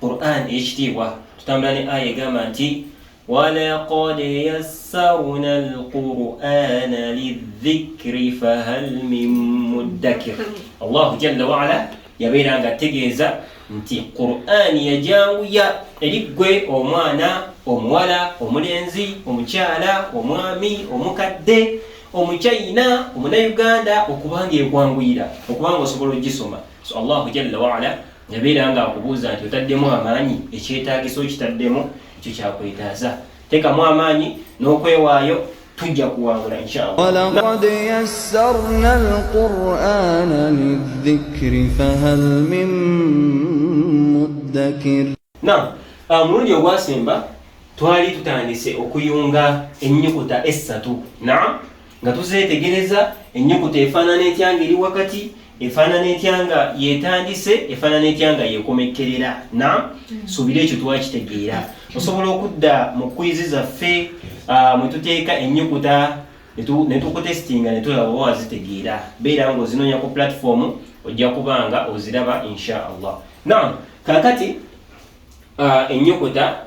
Qur'an ey'ekitiibwa tutambula ne aya egamba nti walaqad yassarna alqur'ana lidhikri fahal min muddakir allahu jalla waala yabeera nga ategeeza nti Qur'an yajanguya eri ggwe omwana omuwala omulenzi omukyala omwami omukadde omuchina omunayuganda okubanga ekwanguyira okubanga osobola ogisoma so allahu jalla waala yabeera nga akubuuza nti otaddemu amaanyi ekyetaagisa okitaddemu ekyo kyakwetaaza tekamu amaanyi n'okwewaayo tujja kuwangula inshalaqad yassarna alqurana lidhikri fahal min muddakir na ah, omulundi ogwasemba twali tutandise okuyunga ennyukuta essatu naam nga tuzeetegereza ennyukuta efaanana etya nga eri wakati efaanana etya nga yetandise efaanana etya nga yekomekkerera na mm. suubira ekyo twakitegeera osobola okudda mu kwizi zaffe ah, mwe tuteeka ennyukuta netukutesitinga netulaba oba wazitegeera beera nga ozinoonya ku platifoomu ojja kuba nga oziraba insha allah na kakati ah, ennyukuta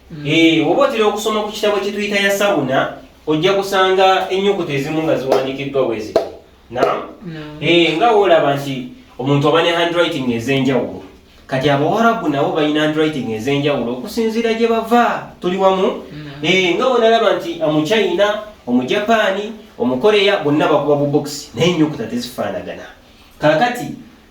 Mm. Eh, oba otera okusoma ku kitabo kyetuyita ya sawuna ojja kusanga ennyukuta ezimu nga ziwandiikiddwa wezi nam eh, nga woolaba nti omuntu aba ne handwriting ez'enjawulo kati abawarabu nabo balina handwriting ez'enjawulo okusinziira gye bava tuli wamu eh, nga wonalaba nti omuchina omujapaani omukoreya bonna bakuba bubokisi naye ennyukuta tezifaanagana kakati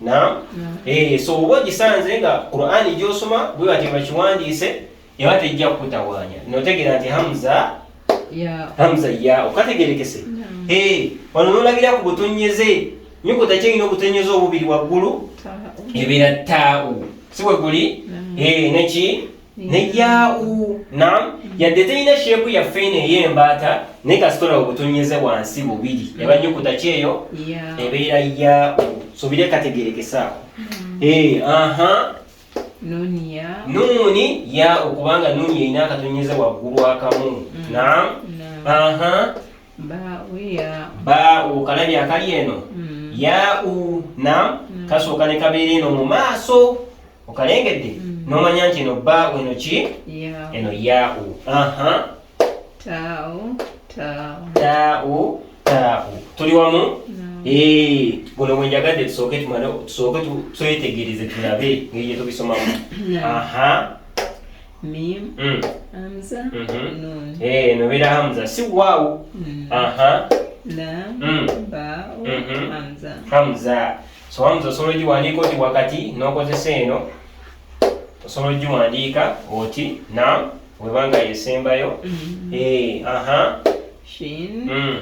Naam. Eh, so oba ogisanze nga Qur'ani gy'osoma bwe bati bakiwandiise eba tejja kukutawaanya. N'otegeera nti Hamza Hamza ya okategerekese. Eh, wano n'olabira ku butonnyeze nyukuta kyeyina obutonnyeze obubiri waggulu ebeera taawu si we guli eh, neki ne yaau nam yadde terina sheepu yaffe eno ey'embaata naye kasitola obutonnyeze wansi bubiri eba nyukuta kyeyo ebeera yaau sobire kategeerekesaako mm. eh, aha nuuni yaau kubanga nuuni erina akatonnyeze waggulu akamu mm. nam aha baau kalabi akali eno mm. yaau nam kasooka ne kabeera eno mu maaso okalengedde mm. nomanya nti eno ba eno ki eno yau aha tau tau tau tau tuli wamu eh guno mwenjagadde tusooke tumane tusooke twetegereze tulabe ngeri gye tubisomamu aha mim mm. hamza mm -hmm. nun eh no bira hamza si wau mm. aha lam mm. ba mm -hmm. hamza hamza Soba nti osobola ogiwandiika oti wakati n'okozesa eno osobola ogiwandiika oti na webanga yesembayo mm-hmm. eh, aha mm.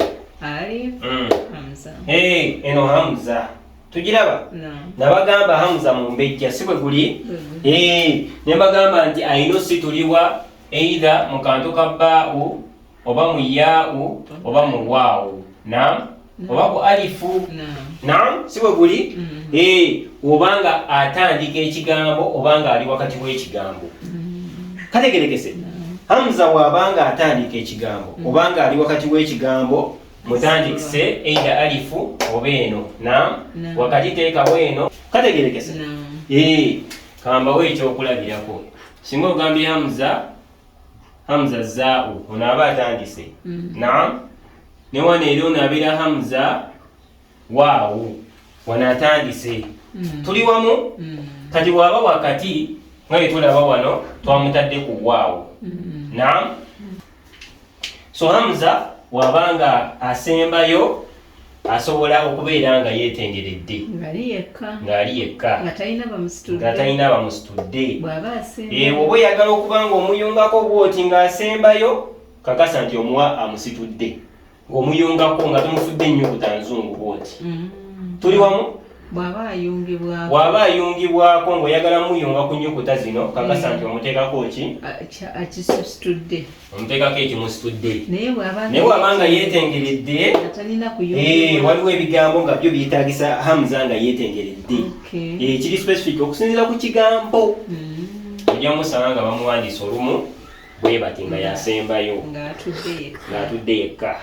mm. eh, eno hamza tugiraba nabagamba hamza mumbejja si bwe guli mm-hmm. eh, ne mbagamba nti ayino situliwa eitha mu kantu ka bbaau oba mu yaau oba mu waawu nam oba ku alifu nam si bwe guli mm-hmm. eh, oba nga atandika ekigambo oba nga ali wakati w'ekigambo mm-hmm. kategerekese hamza waaba nga atandika ekigambo mm-hmm. oba nga ali wakati w'ekigambo mutandikise eida alifu oba eno nam wakati teekawo eno kategerekese eh, kambawo ekyokulabirako singa ogambye hamza hamza zaau ono aba atandise mm. naam ne wano era ono abeera hamza waawu wano atandise mm. tuli wamu mm. kati waaba wakati nga yetulaba wano twamutadde ku waawu naam so hamza wabanga asembayo asobola okubeera nga yeetengeredde ng'ali yekka ng'ali yekka nga talina bamusitudde nga talina bamusitudde bw'aba asemba ewo oba oyagala okuba ng'omuyungako bw'oti ng'asembayo kakasa nti omuwa amusitudde ng'omuyungako nga tomufudde nnyo butanzungu bw'oti mm. tuli wamu bw'aba ayungibwako bw'aba ayungibwako ng'oyagala muyunga ku nyukuta zino kakasa nti mm. omuteekako ki akisitudde omuteekako ekimusitudde naye bw'aba nga yeetengeredde eh, waliwo ebigambo nga byo byetaagisa hamza nga yeetengeredde eh, kiri specific okusinziira ku kigambo mm. ojja musanga nga bamuwandiisa olumu bwe bati nga yasembayo ng'atudde yekka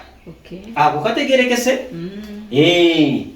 ako kategerekese mm. eh.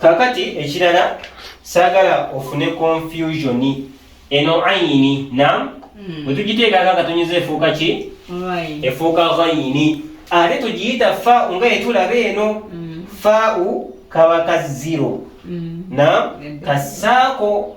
kakati ekirala saagala ofune confusion eno ayini nam hmm. bwe tugiteekaka nga tunyuza efuuka ki efuuka ayini ate tugiyita fa nga etulaba eno hmm. fau kabaka ziro hmm. nam kasaako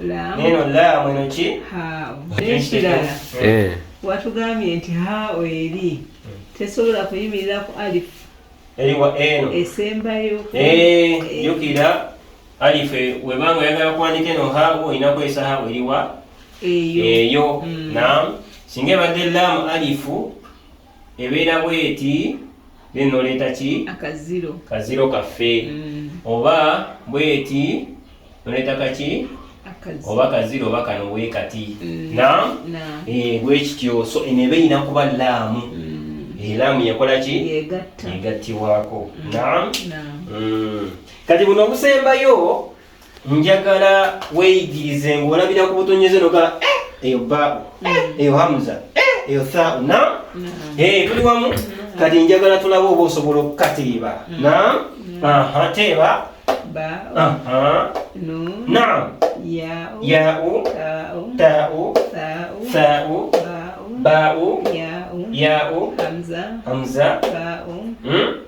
neno laamu eno ki nekirala eh. watugambye nti hao eri tesobola kuyimirira ku alifu eriwa eno esembayo eh, jukira alifu webanga oyagala kuwandika eno hao olina kukozesa hao eriwa eyo mm. nam singa ebadde laamu alifu ebeera bweti then noleeta ki akaziro kaziro kaffe mm. oba bweti noleeta kaki oba kaziro oba kano wekati mm. na eh, bwekityo so eno eba erina kuba laamu mm. eh, laamu yakola ki yegattiwaako na kati buno obusembayo njagala weyigirize ng'olabira ku butonyeze noga eh, eyo baabu eh, mm. eyo hamuza eh, eyo thau na mm-hmm. tuli wamu mm-hmm. kati njagala tulaba oba osobola okukatiiba mm-hmm. na teeba na yau tau thau bau yau hamza hmm?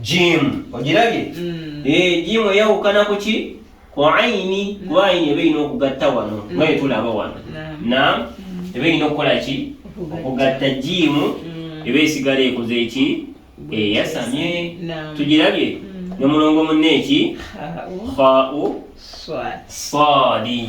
jiimu ogirabye mm. eh, jiimu eyawukana ku ki ku ayini mm. kuba ayini eba erina okugatta wano mm. nga yetulaba wano na eba erina okukola ki okugatta jiimu eba esigala ekoze eki eyasamye tugirabye ne mulongo munne eki khau swadi